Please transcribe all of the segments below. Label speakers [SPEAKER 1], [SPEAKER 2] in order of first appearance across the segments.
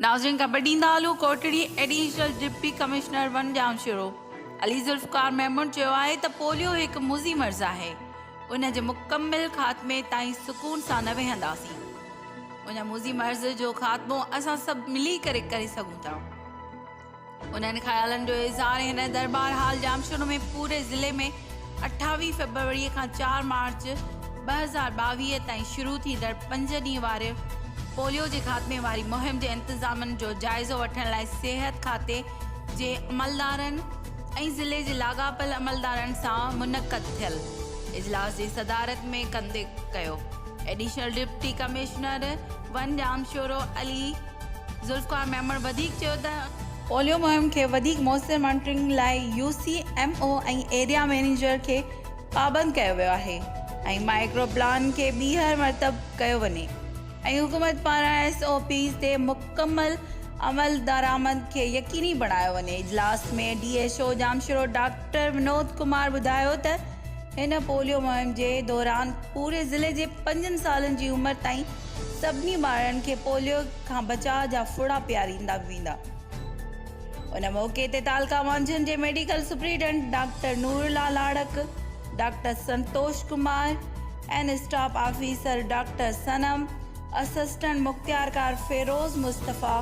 [SPEAKER 1] ناظرين خبر ڏيندا هلون Kotri additional deputy commissioner one Jamshoro Ali Zulfiqar Memon چيو آهي ته پوليو هڪ مضي مرض آهي ان جي مڪمل خاتمي تائين سڪون سان نه ويهنداسين ان مضي مرض جو خاتمو اسان سڀ ملي ڪري ڪري سگهون ٿا انهن خيالن جو اظهار هن درٻار هال ڄامشورو ۾ پوري ضلعي ۾ اٺاويهه فيبروري کان چار مارچ ٻه هزار ٻاويهه تائين شروع ٿيندڙ پنج ڏينهن واري پوليو جي خاتمي واري مهم جي انتظامن جو جائزو وٺڻ لاء صحت کاتي جي عملدارن ۽ ضلعي جي لاڳاپيل عملدارن سان منعقد ٿيل اجلاس جي صدارت ۾ ڪندي ڪيو additional deputy commissioner one Jamshoro Ali Zulfiqar Memon وڌيڪ چيو ته. پوليو مهم کي وڌيڪ موثر مانيٽرنگ لاء U C M O ۽ area manager کي پابند ڪيو ويو آهي ۽ مائيڪرو پلان کي ٻيهر مرتب ڪيو وڃي ۽ حڪومت پاران ايس او پيز تي مڪمل عملدرآمد کي يقيني بڻايو وڃي اجلاس ۾ D H O Jamshoro doctor Vinod Kumar ٻڌايو ته هن پوليو مهم جي دوران پوري ضلعي جي پنجن سالن جي عمر تائين سڀني ٻارڙن کي پوليو کان بچاء جا ڦڙا پياريندا ويندا. ان موقعي تي تعلقه مانجهند جي medical superintendent doctor Noorullah Larik, doctor Santosh Kumar ۽ staff officer doctor Sanam, assistant مختيارڪار فيروز مصطفيٰ،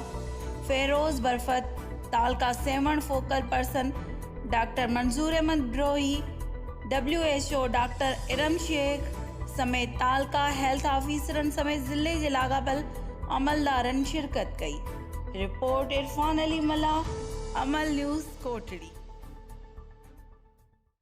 [SPEAKER 1] فيروز برفت، تعلقه Sehwan focal person, doctor Manzoor Ahmed Brohi, W H O doctor Iram Shaikh سميت تعلقه هيلٿ آفيسرن سميت ضلعي جي لاڳاپيل عملدارن شرڪت ڪئي. رپورٽ عرفان علي ملاح، عمل نيوز، ڪوٽڙي.